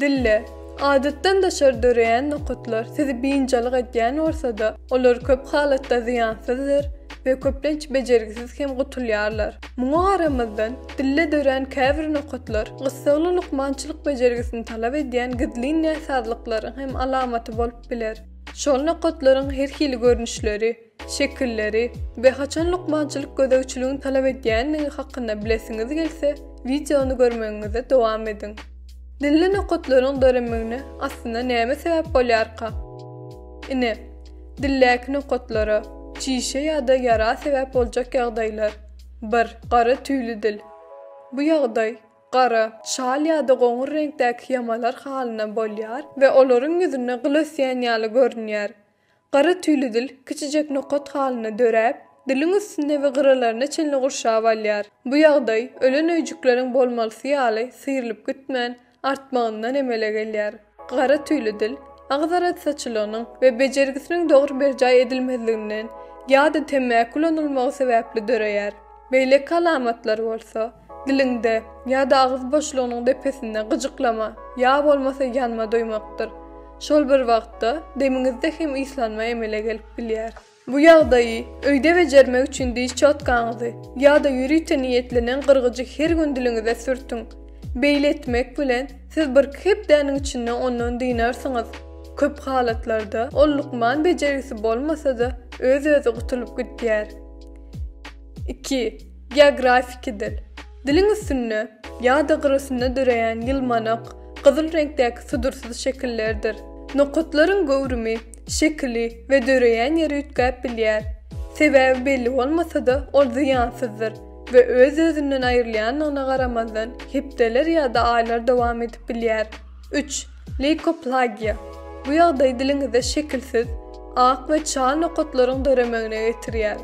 Dille, adatdan daşary döreýän nokatlar sizi biynjalyk edýän bolsa-da, olar köp halatda zyýansyzdyr we köplenç bejergisiz hem gutulýarlar. Muňa garamazdan, dille dörän käbir nokatlar gyssagly lukmançylyk bejergisini talap edýän gizlin näsazlyklaryň hem alamaty bolup biler. Şol nokatlaryň her hili görnüşleri, şekilleri we haçan lukmançylyk gözegçiligiň talap edýändigi hakynda bilesiňiz gelse, wideony görmegiňizi dowam ediň. Dilli nokatlaryň döremegine aslynda näme sebäp bolýarka? Ine, dildäki nokatlara, çişe ýa-da ýara sebäp boljak ýagdaýlar. Bir. Gara tüýli dil. Bu ýagdaý gara, şal ýa-da goňur reňkdäki ýamalar halynda bolýar we olaryň ýüzünde gyl ösýän ýaly görünýär. Gara tüýli dil kiçijek nokat halynda döräp, diliň üstüne we gyralaryna çenli gurşap alýar. Bu ýagdaý ölen öýjükleriň bolmalysy ýaly syrylyp gitmän, artmagyndan emele gelýär. Gara tüýli dil agyz arassaçylygynyň we bejergisiniň dogry berjaý edilmezliginden ýa-da temmäki ulanylmagy sebäpli döreýär. Beýleki alamatlar bolsa, diliňde ýa-da agyz boşlugynyň depesinde gyjyklama ýa bolmasa ýanma duýmakdyr. Şol bir wagtda demiňizde hem yslanma emele gelip bilýär. Bu ýagdaýy öýde bejermek üçin diş çotgaňyzy ýa-da ýörite niýetlenen gyrgyjy her gün diliňize sürtüň. Beýle etmek bilen, siz birki hepdäniň içinde ondan dynarsyňyz. Köp halatlarda ol lukman bejergisi bolmasa-da, öz-özi gutulyp gidýär. Iki. Geografiki dil. Diliň üstünde ýa-da gyrasynda döreýän ýylmanak, gyzyl reňkdäki sudursyz şekillerdir. Nokatlaryň göwrümi, şekili we döreýän ýeri üýtgäp bilýär. Sebäbi belli bolmasa-da, ol zyýansyzdyr we öz-özünden aýrylýandygyna garamazdan, hepdeler ýa-da aýlar dowam edip bilýär. Üç. Leýkoplagiýa, bu ýagdaý diliňizde şekilsiz, ak we çal nokatlaryň döremegine getirýär.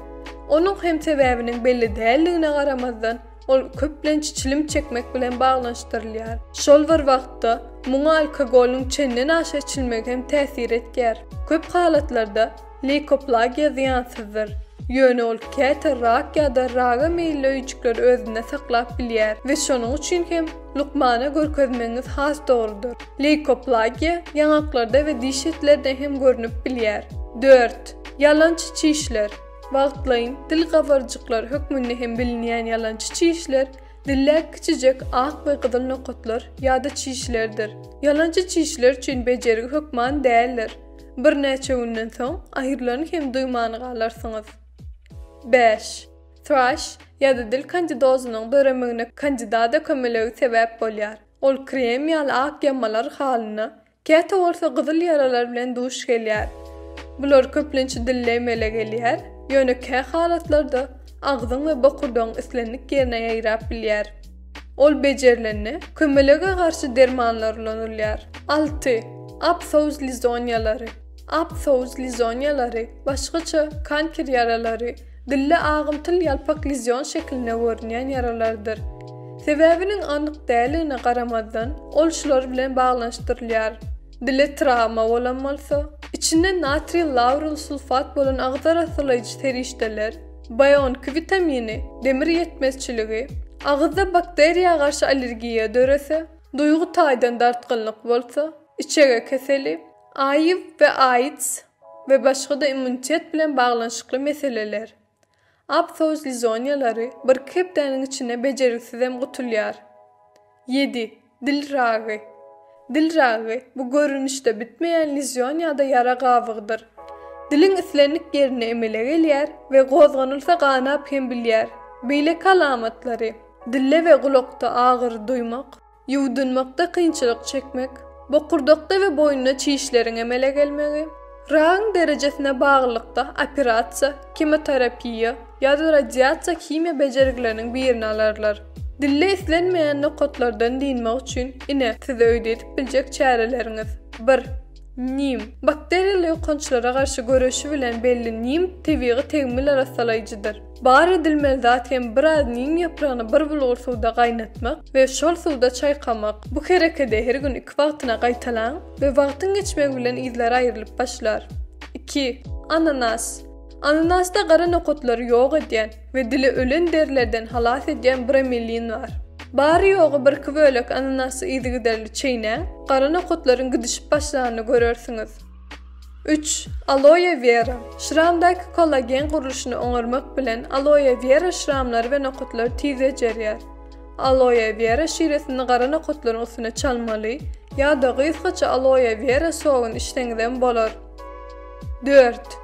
Onuň hem sebäbiniň belli däldigine garamazdan, ol köplenç çilim çekmek bilen baglanyşdyrylýar. Şol bir wagtda, muňa alkogolyň çendenaşa içilmegi hem täsir etýär. Köp halatlarda, Leýkoplagiýa zyýansyzdyr. Ýöne ol käte rak ýa-da raga meýilli öýjükleri özünde saklap bilýär we şonuň üçin hem lukmana görkezmegiňiz has dogrudyr. Leýkoplagiýa ýaňaklarda we diş etlerde hem görnüp bilýär. Dört. Ýalançy çişler. Wagtlaýyn dil gabarjyklar hökmünde hem bilinýän ýalançy çişler, dilde kiçijek ak we gyzyl nokatlar ýa-da çişlerdir. Ýalançy çişler üçin bejergi hökman däldir. Birnäçe günden soň aýyrylany hem duýman galarsyňyz. Bäş. Thrush ýa-da dil kandidozynyň döremegine kandida dökemelegi sebäp bolýar. Ol krem ýaly ak ýamalar halyna, käte bolsa gyzyl ýaralar bilen duş gelýär. Bular köplenç dilde emele gelýär, ýöne kä halatlarda agzyň we bokurdagyň islendik ýerine ýaýrap bilýär. Ol bejerilende, kömelege garşy dermanlar ulanylýar. Alty. Apthouz lizoniýalary Apthouz lizoniýalary, başgaça, kanker ýaralary, dilde agymtyl ýalpak lezion şeklinde görünýän ýaralardyr. Sebäbiniň anyk däligine garamazdan, ol şular bilen baglanyşdyrylýar. Dile trawma bolan bolsa, içinde natriý lauril sulfat bolan agzar asyrlaýjy serişdeler, Bionk witamini, demir ýetmezçiligi, agyzda bakteriýa garşy allergiýa dörese, duýgy taýdan dartgynlyk bolsa, içege keseli, AIW we AIDS we başga-da immunitet bilen baglanyşykly meseleler. Aptoz lizoniýalary birki hepdäniň içinde bejeriksizem gutulýar. Ýedi. Dil ragy. Dil ragy, bu görnüşde bitmeýän lizýon ýa-da ýara gabygydyr. Diliň islendik ýerine emele gelýär we gozganylsa ganap hem bilýär. Beýleki alamatlary, dilde we gulakda agyry duýmak, ýuwdunmakda kynçylyk çekmek, bokurdakda we boýunda çişleriň emele gelmegi, Ragyň derejesine baglylykda operasiýa, kimoterapiýa ýa-da radiasiýa-himiýa bejergileriniň birini alarlar. Dilde islenmeýän nokatlardan dynmak üçin, ine, size öýde edip biljek çäreleriňiz. Bir. Nim. Bakteriýaly ýokançlara garşy göreşi bilen belli nim tebigy tegmil arassalaýjydyr. Bar edilmeli zat hem biraz nim ýapragyny bir bulgur suwda gaýnatmak we şol suwda çaýkamak. Bu herekedi her gün iki wagtyna gaýtalaň we wagtyň geçmegi bilen yzlary aýrylyp başlar. Iki. Ananas. Ananasda gara nokatlary ýok edýän we dili ölen derilerden halas edýän bromelin bar. Bary-ýogy birki bölek ananasy yzygiderli çeýnäň, gara nokatlaryň gidişip başlanyny görersiňiz. Üç, aloe wera. Şramdaky kollagen gurluşyny oňarmak bilen aloe wera şramlary we nokatlary tiz bejerýär. Aloe wera şiresini gara nokatlaryň üstüne çalmaly ýa-da gysgaça aloe wera sogyn içseňizem bolar. Dört,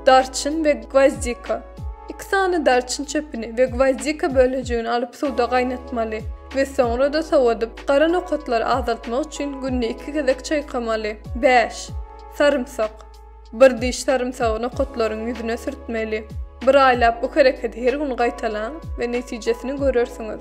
darçyn we gwozdika. Iki sany darçyn çöpüni we gwozdika bölejigini alyp suwda gaýnatmaly we soňra-da sowadyp, Gara nokatlary azaltmak üçin günde iki gezek çaýkamaly. Bäş. Sarymsak. Bir diş sarymsagy nokatlaryň ýüzüne sürtmeli. Bir aýlap bu hereketi her gün gaýtalaň we netijesini görersiňiz.